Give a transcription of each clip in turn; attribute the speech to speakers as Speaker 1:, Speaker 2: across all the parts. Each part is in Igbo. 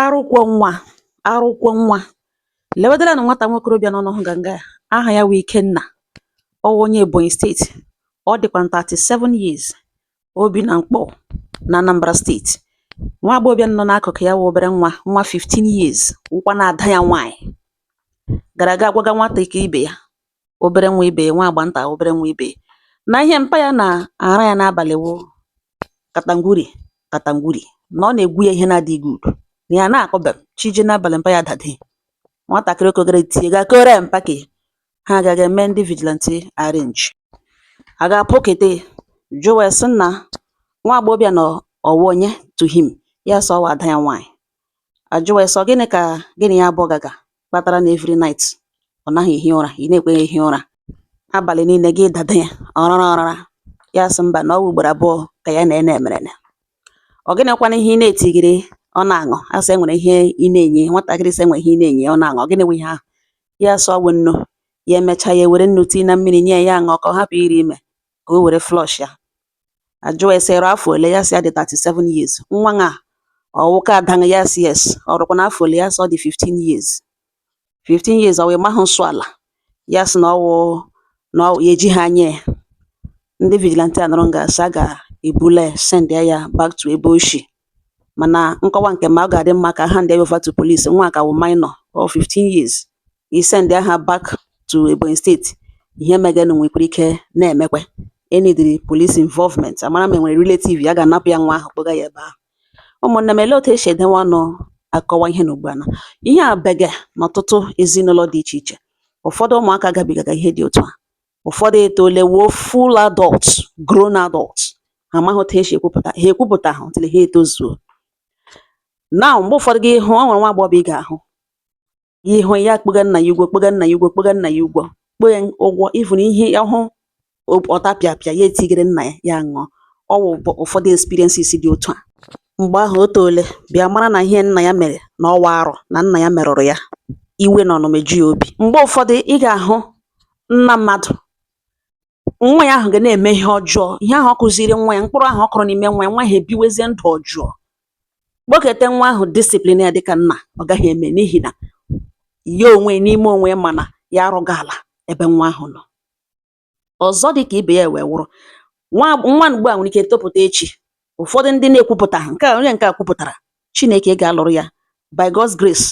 Speaker 1: Arụ kwọ nwa Arụ kwọ nwa Lewedala na nwata nwokorobịa nọ ụnụ hụga nga a aha ya wụ Ikenna ọ wụ onye Ebonyi steeti ọ dịkwa 37 years o bi na Nkpọ na Anambra steeti nwa agbọghọbịa nọ n'akụkụ ya wụ obere nwa nwa 15 years wụkwanụ ada ya nwaanyị gara aga gwaga nwatakịrị ibe ya obere nwa ibe ya, nwa agbata obere nwa ibe ya, na ihe mpa ya na-ara ya n'abalị wụ katangwuri katangwuri na ọ na-egwu ya ihe na-adịghị good na ya na-akọbe m chi jie n'abalị mpa ya dada ya nwatakịrị okogere tie ga kore mpa ka ha agaghị eme ndị vigilante arrange aga kpọkete jụwa ya sị na nwa agbọghọbịa na ọ wụ onye to him ya sị ọ wụ ada ya nwaanyị ajụwa ya sị ọ gịnị ka gị na ya abụọ gaga kpatara na every night ọ naghị ehi ụra ị naghị ekwe ya ehi ụra abalị niile gị dada ya ọrara ọrara ya sị mba na ọ bụ ugboro abụọ ka ya na ya merene ọ gịnịkwanụ ihe ị na-etigiri ọ na-aṅụ asị enwere ihe ị na-enye nwatakịrị sị enwere ihe ị na-enye ọ na-aṅụ ọ gịnị bụ ihe ahụ ya sị ọ wụ nnu ya emechaa ya were nnu tii na mmiri nye ya aṅụọ ka ọ hapụ ịrị ime ka o were flush ya Ajụọ ya sị, "Ị rụ afọ ole?" Ya sị, "Ya dị 37 years." Nwa ṅa ọ wụkwa ada gị? Ya sị, "Yes." Ọ rụkwanụ afọ ole? Ya sị, "Ọ dị 15 years." 15 years ọ wụ ị mahụ nsọ ala? Ya sị na ọ wụ na ya ejihụ anya ya. Ndị vigilante anọrọ nga sị a ga-ebula sendia ya back to ebe o shi. mana nkọwa nke m ọ ga-adị mma ka a handie ya over to police nwa ka wụ minor of 15 years i send ha back to Ebonyi steeti ihe meganụ nwekwara ike na-emekwa e needịrị police involvement a mara ma enwere relative ya ga-anapụ ya nwa ahụ kpọga ya ebe ahụ ụmụnne m elee otu esi edewe ọnụ akọwa ihe na ugbu a na ihe a bege n'ọtụtụ ezinụlọ dị iche iche ụfọdụ ụmụaka gabigaga ihe dị otu a ụfọdụ etolewo full adult grown adult ha amaghị otu esi ekwupụta ha ekwupụtahụ until ha etozuo now mgbe ụfọdụ gị hụ ọ nwere nwa agbọghọ ị ga-ahụ gị hụ ya kpọga nna ya ugwo kpọga nna ya ugwo kpọga nna ya ugwo kpọọ ya ugwo even if ọ hụ ọtapịapịa ya etigere nna ya ya ṅụọ ọ wụ ụfọdụ experiences dị otu a Mgbe ahụ o toole bịa mara na ihe nna ya mere na ọ wụ arụ na nna ya merụrụ ya iwe na ọnụma eju ya obi mgbe ụfọdụ ị ga-ahụ nna mmadụ nwa ya ahụ ga na-eme ihe ọjọọ ihe ahụ ọ kụziri nwa ya mkpụrụ ahụ ọ kụrụ n'ime nwa ya nwa ya ebiwezie ndụ ọjọọ kpọketa nwa ahụ discipline ya dịka nna ọ gaghị eme n'ihi na ya onwe n'ime onwe ya ma na ya rụga ala ebe nwa ahụ nọ ọzọ dị ka ibe ya wee wụrụ nwa nwa ugbu a nwere ike topụta echi ụfọdụ ndị na-ekwupụta nke a onye nke a kwupụtara Chineke ga-alụrụ ya by God's grace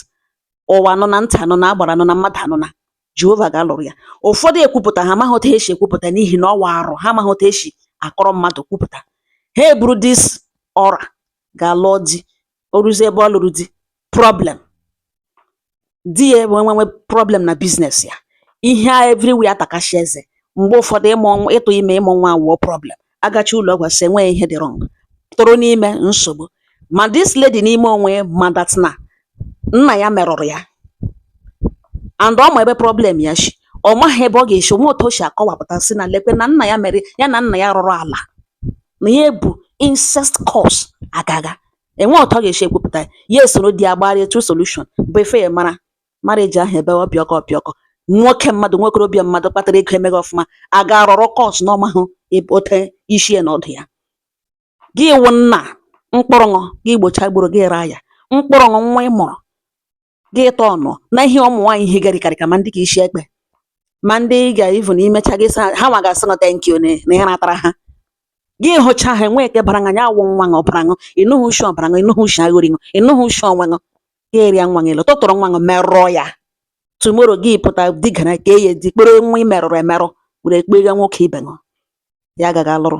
Speaker 1: ụwa anụna ntị anụna agbara anụna mmadụ anụna Jehova ga-alụrụ ya ụfọdụ ekwupụta ha amaghị otu esi ekwupụta n'ihi na ọ wụ arụ ha amaghị otu esi akọrọ mmadụ kwupụta ha eburu this aura gaa lụọ di o ruzie ebe ọ lụrụ di problem di ya enwewe problem na business ya ihe a everywhere atakashi eze mgbe ụfọdụ ịmụ ịtụ ime ịmụ nwa awụọ problem agachi ụlọ ọgwụ sị enweghị ihe dị wrong tọrọ n'ime nsogbu ma this lady n'ime onwe ya ma that na nna ya merụrụ ya and ọ ma ebe problem ya shi ọ maghị ebe ọ ga-esi enwe otu o si akọwapụta sị na lekwe na nna ya mere ya na nna ya rụrụ ala na ya bụ incest curse agaga enwe otu ọ ga-esi ekwupụta ya ya esoro di ya gbara etu solution bụ ife ya mara marriage ahụ ebe ọ pịọkọ pịọkọ nwoke mmadụ nwokorobịa mmadụ kpatara ego emeghị ọfụma a ga-arọrọ curse n'ọ mahụ ote isi ya na ọdụ ya gị wụ nna mkpụrụ ṅụ gị gbocha gburu gị raa ya mkpụrụ ṅụ nwa ị mụrụ gị tọọ ọnụ na ihe ụmụ nwaanyị higarịkarị ka ma ndị ka isi ekpe ma ndị ga ivu na imecha ha ha nwa ga-asị ṅụ thank you na ihe natara ha gị hụcha ha enwe nke bara anya awụ nwa ṅụ ọbara ṅụ ịnụghị ushi ọbara ṅụ ịnụghị ushi aghori ṅụ ịnụghị ushi onwe ṅụ gị erịa nwa ṅụ elu tụtụrụ nwa ṅụ merụọ ya tomorrow gị pụta digara ka e ya di kpere nwa i merụrụ emerụ were kpeghe nwoke ibe ṅụ ya agaga lụrụ